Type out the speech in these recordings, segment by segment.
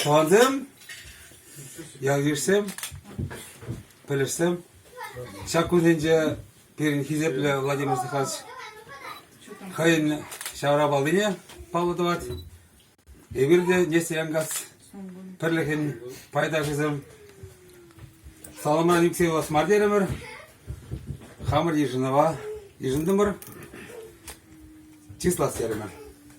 Тӑвансем, ял-йышсем, пӗлӗшсем, ҫак кунсенче пирӗн хисеплӗ Владимир Степанович хӑйӗн ҫаврапаллине паллӑ тӑвать. Эпир те Несте Янгас пӗрлӗхӗн пайташӗсем. Саламран ӳксе юлас мар терӗмӗр. Хамӑр йышӑнӑва йышӑнтӑмӑр. Чыслас терӗмӗр.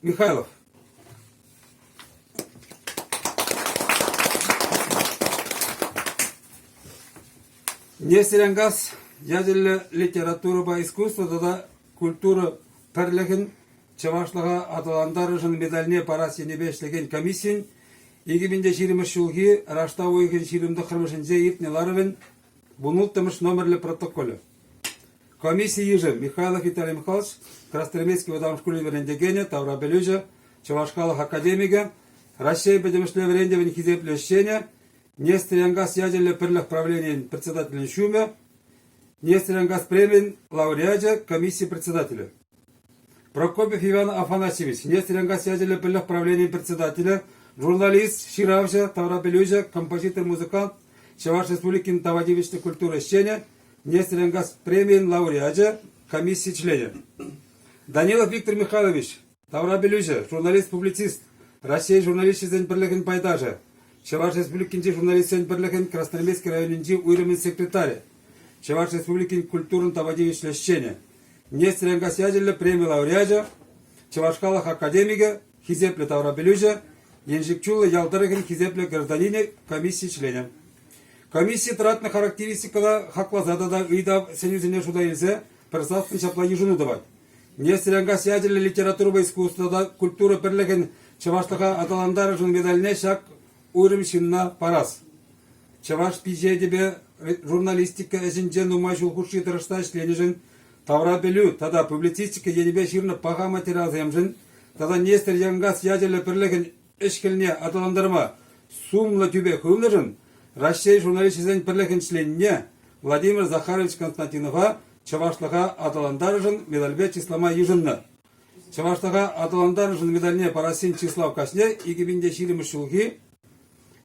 Михайлов. Нестерянгаз ячӗллӗ литературӑпа искусство тата культура пӗрлӗхӗн чӑвашлӑха аталантарӑшӑн медальне парас енӗпе ӗҫлекен комиссийӗн 2020 ҫулхи раштав уйӑхӗн ҫирӗм тӑххӑрмӗшӗнче иртнӗ ларӑвӗн Вун улттӑмӗш номерлӗ протоколӗ. Комисси йышӗ Михайлов Виталий Михайлович, Красноармейски вӑтам шкулӗн вӗрентекенӗ, таврапӗлӳҫӗ, Чӑваш халӑх академикӗ, Раҫҫей пӗтӗмӗшле вӗрентӗвӗн хисеплӗ ӗҫченӗ, Нестерьянгаз ячӗллӗ пӗрлӗх правленийӗн председателӗн ҫумӗ, Нестерьянгаз премийӗн лауреачӗ, комисси председателӗ. Прокопьев Иван Афанасьевич, Нестеренко ячӗллӗ пӗлӗх правленийӗн председателӗ, журналист, ҫыравҫӑ, таврапӗлӳҫӗ, композитор, музыкант, Чӑваш Республикин тава тивӗҫлӗ культура ӗҫченӗ, Нестеренкас премийӗн лауреачӗ, комисси членӗ. Данилов Виктор Михайлович, таврапӗлӳҫӗ, журналист-публицист, Раҫҫей журналисчӗсен пӗрлӗхӗн пайташӗ, Чӑваш Республикинчи журналистсен пӗрлӗхӗн Красноармейски районӗнчи уйрӑмӗн секретарӗ, Чӑваш Республикин культурӑн тава тивӗҫлӗ ӗҫченӗ, Нестер Янкас ячӗллӗ преми лауреачӗ, Чӑваш халӑх академикӗ, хисеплӗ таврапӗлӳҫӗ, Еншик Чуллӑ ял тӑрӑхӗн хисеплӗ гражданинӗ комисси членӗ. Комисси тӑратнӑ характеристикӑна хакласа тата ыйтав сӗнӳсене шута илсе пӗр саслӑн ҫапла йышӑну тӑвать. Нестер Янкас ячӗллӗ литературӑпа искусство тата культура пӗрлӗхӗн чӑвашлӑха аталантарӑшӑн медальне ҫак Уйрӑм ҫынна парас. Чӑваш пичетӗпе журналистика ӗҫӗнче нумай ҫул хушши тӑрӑшса ӗҫленӗшӗн тавра пӗлӳ тата публицистика енӗпе ҫырнӑ паха материалсемшӗн тата Нестер Янкас ячӗллӗ пӗрлӗхӗн ӗҫ-хӗлне аталантарма сумлӑ тӳпе хывнӑшӑн Раҫҫей журналисчӗсен пӗрлӗхӗн членне Владимир Захарович Константинова чӑвашлӑха аталантарнӑшӑн медальпе чыслама йышӑннӑ. Чӑвашлӑха аталантарнӑшӑн медальне парассин чыслав каҫне икӗ пин те ҫирӗммӗш ҫулхи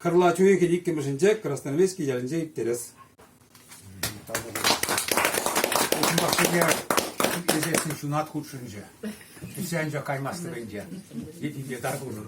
кӑрлач уйӑхӗн иккӗмӗшӗнче Красноармейски ялӗнче ирттерес. Унпа пӗрре итлесессӗн ҫунат хутшӑнчӗ. Килсе анчах каймастӑп ӗнтӗ. Йӗтинче тар пулӑр.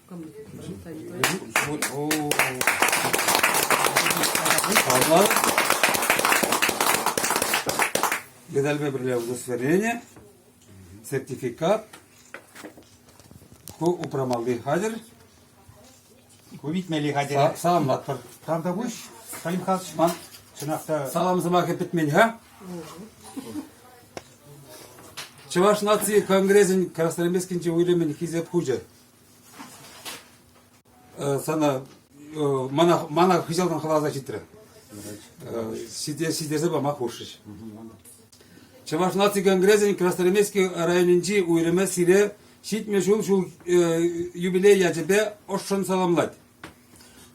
Медальпе пӗрле удостоверение, сертификат, ку упрамалли хатӗр. Ку витмелли хатӗр. Са- Саламлатпӑр. Тавтапуҫ, Салим Хасман. Чӑнах та Салам сӑмахӗ пӗтмен-ха. Чӑваш наци конгресӗн Красноармейскинчи уйрӑмӗн хисеп хучӗ. Сана мана мана хыҫалтан хӑласа ҫитрӗ. Ҫитерсе пама хушрӗҫ. Чӑваш наци конгресӗн Красноармейски районӗнчи уйрӑмӗ сире ҫитмӗл ҫул ҫул юбилей ячӗпе ӑшшӑн саламлать.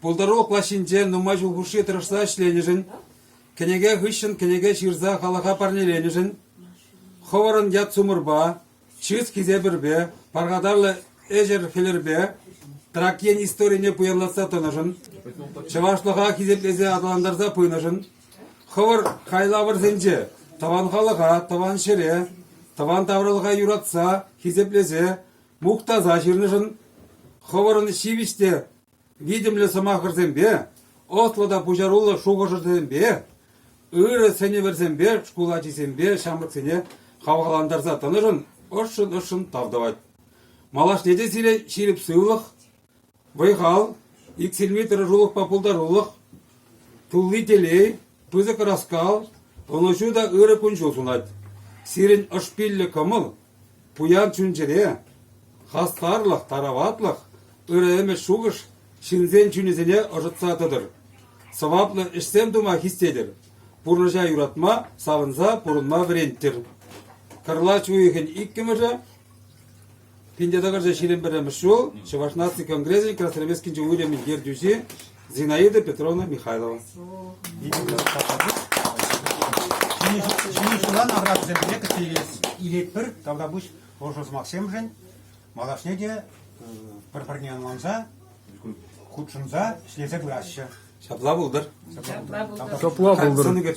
Пултарулӑх плащӗнче нумай ҫул хушши тӑрӑшса ӗҫленӗшӗн, кӗнеке хыҫҫӑн кӗнеке ҫырса халӑха парнеленӗшӗн, хӑвӑрӑн ят-сумӑрпа, чыс хисепӗрпе, пархатарлӑ ӗҫӗр-хӗлӗрпе Тракьен историне пуянлатса тӑнӑшӑн, чӑвашлӑха хисеплесе аталантарса пынӑшӑн, хӑвӑр хайлавӑрсенче тӑван халӑха, тӑван ҫӗре, тӑван тавралӑха юратса, хисеплесе, мухтаса ҫырнӑшӑн хӑвӑрӑн ҫивӗч те витӗмлӗ сӑмахӑрсемпе, ӑслӑ та пуҫаруллӑ шухӑшӑрсемпе, ырӑ сӗнӗвӗрсемпе шкул ачисемпе ҫамрӑксене хавхалантарса тӑнӑшӑн ӑшшӑн-ӑшшӑн тав тӑвать. Малашне те сире ҫирӗп сывлӑх, вӑй-хал, иксӗлми тӑрӑшулӑхпа пултарулӑх, тулли телей, пысӑк ӑраскал, ӑнӑҫу та ырӑ кун-ҫул сунать. Сирӗн ӑшпиллӗ кӑмӑл Пуян чун-чӗре, хастарлӑх, тараватлӑх, ырӑ ӗмӗт-шухӑш ҫынсен чунӗсене ӑшӑтса тӑтӑр, сӑваплӑ ӗҫсем тума хистетӗр, пурнӑҫа юратма, савӑнса пурӑнма вӗренттӗр. Кӑрлач уйӑхӗн иккӗмӗшӗ пин те тӑкӑрҫӗ ҫирӗм пӗрремӗш ҫул Чӑваш наци конгресӗн Красноармейскинчи уйрӑмӗн ертӳҫи Зинаида Петровна Михайлова. Ҫӗнӗ ҫулан аркатусемпе кӗтсе илетпӗр тавра пуҫ ӑшӑ сӑмахсемшӗн. Малашне те пӗр-пӗрне ӑнланса, хутшӑнса, ӗҫлесе пыраҫҫӗ. Ҫапла пултӑр. Ҫапла пултӑр. Ҫапла пултӑр.